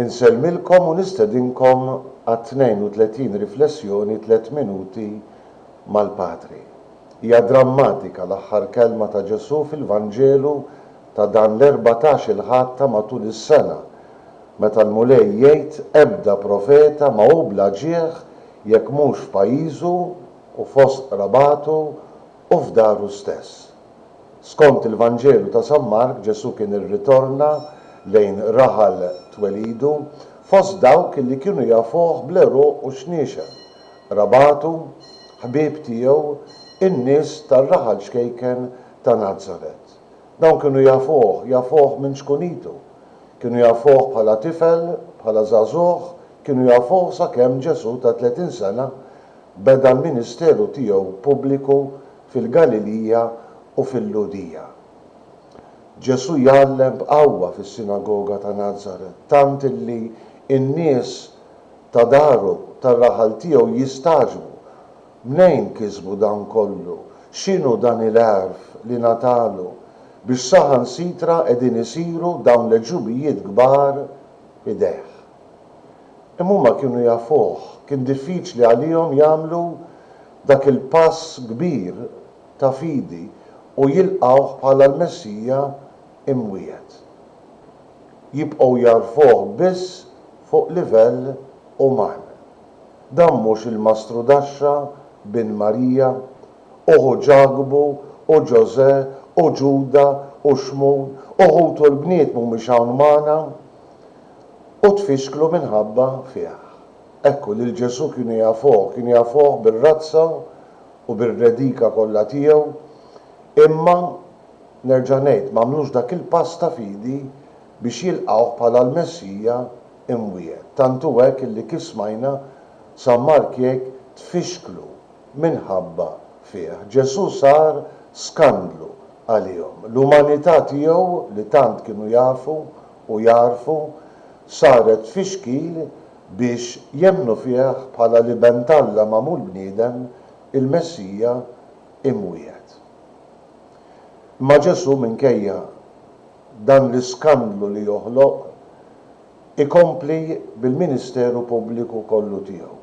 Insellmilkom u nistedinkom għat-32 riflessjoni Tliet Minuti mal-Patri. Hija drammatika l-aħħar kelma ta' Ġesù fil-Vanġelu ta' dan l-erbatax-il Ħadd ta' matul is-sena, meta l-Mulej jgħid ebda profeta ma hu bla ġieħ jekk mhux f'pajjiżu u fost qrabatu u f'daru stess. Skont il-Vanġelu ta' San Mark Ġesù kien irritorna lejn raħal twelidu fost dawk li kienu jafuh bl-għeruq u x-xniexel, qrabatu, ħbieb tiegħu, in-nies tar-raħal ċkejken ta' Nazaret. Dawn kienu jafuh, jafuh minn ċkunitu. Kienu jafuh bħala tifel, bħala żagħżugħ, kienu jafuh sakemm Ġesù ta' tletin sena, beda l-ministeru tiegħu pubbliku fil-Galilija u fil-Lhudija. Ġesù jgħallem b'qawwa fis-sinagoga ta' Nazaret tant illi n-nies ta' daru, tar-raħal tiegħu jistagħġbu, Mnejn kisbu dan kollu? X'inhu dan il-għerf li ngħatalu, biex saħansitra qegħdin isiru dawn l-għeġubijiet kbar f'idejh? Imma huma kienu jafuh. Kien diffiċli għalihom jagħmlu dak il-pass kbir ta' fidi u jilqgħuh bħala l-Messija imwiegħed. Jibqgħu jagħrfuh biss fuq livell uman. Dan mhux il-Mastru Daxxa, bin Marija, u ħu Ġakbu, u Ġożè, u Ġuda, u Xmun, u ħutu l-bniet mhumiex hawn magħna? u tfixklu minħabba fih. Ekku, lil Ġesù kienu jafuh, kienu jafuh bir-razza u bir-redika kollha tiegħu, imma, nerġa' ngħid, m'għamlux dak il-pass ta' fidi biex jilqgħuh bħala l-Messija imwiegħed. Tant hu hekk illi kif smajna, San Mark jgħid, tfixklu minħabba fih. Ġesù sar skandlu għalihom. L-umanità tiegħu, li tant kienu jafu, u jagħrfu saret fixkil biex jemmnu fih bħala l-Iben t'Alla magħmul bniedem, il-Messija imwiegħed. Imma Ġesù minkejja dan l-iskandlu li joħloq, ikompli bil-ministeru pubbliku kollu tiegħu.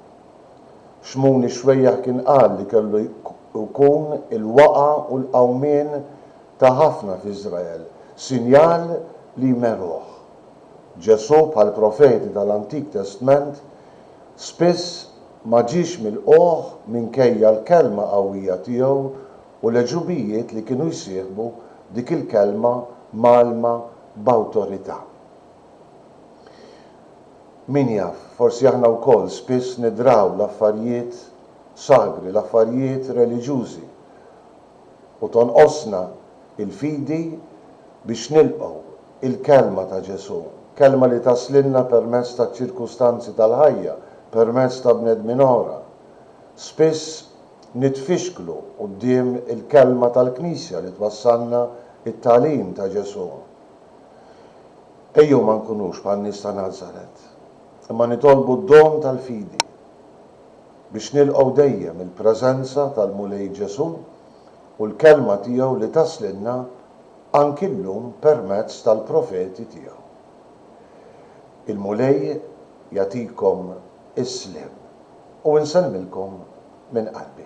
Xmuni xwejjaħ kien qal li kellu jkun il-waqgħa u l-qawmien ta' ħafna f'Iżrael, sinjal li jmerruh. Ġesù, bħall-profeti tal-Antik Testment, spiss ma ġiex milqugħ minkejja l-kelma qawwija tiegħu u l-għeġubijiet li kienu jsieħbu dik il-kelma mgħallma b'awtorità. Min jaf, forsi aħna wkoll spiss nidraw l-affarijiet sagri, l-affarijiet reliġjużi, u tonqosna l-fidi biex nilqgħu l-kelma ta' Ġesù, kelma li taslilna permezz taċ-ċirkustanzi tal-ħajja, permezz ta' bnedmin oħra. Spiss nitfixklu quddiem il-kelma tal-Knisja li twassalna t-tagħlim ta' Ġesù. Ejjew ma nkunux bħan-nies ta' Nazaret, imma nitolbu d-don tal-fidi biex nilqgħu dejjem il-preżenza tal-Mulej Ġesù u l-Kelma tiegħu li taslilna anki llum permezz tal-profeti tiegħu. Il-Mulej jagħtikom is-sliem u nsellmilkom minn qalbi.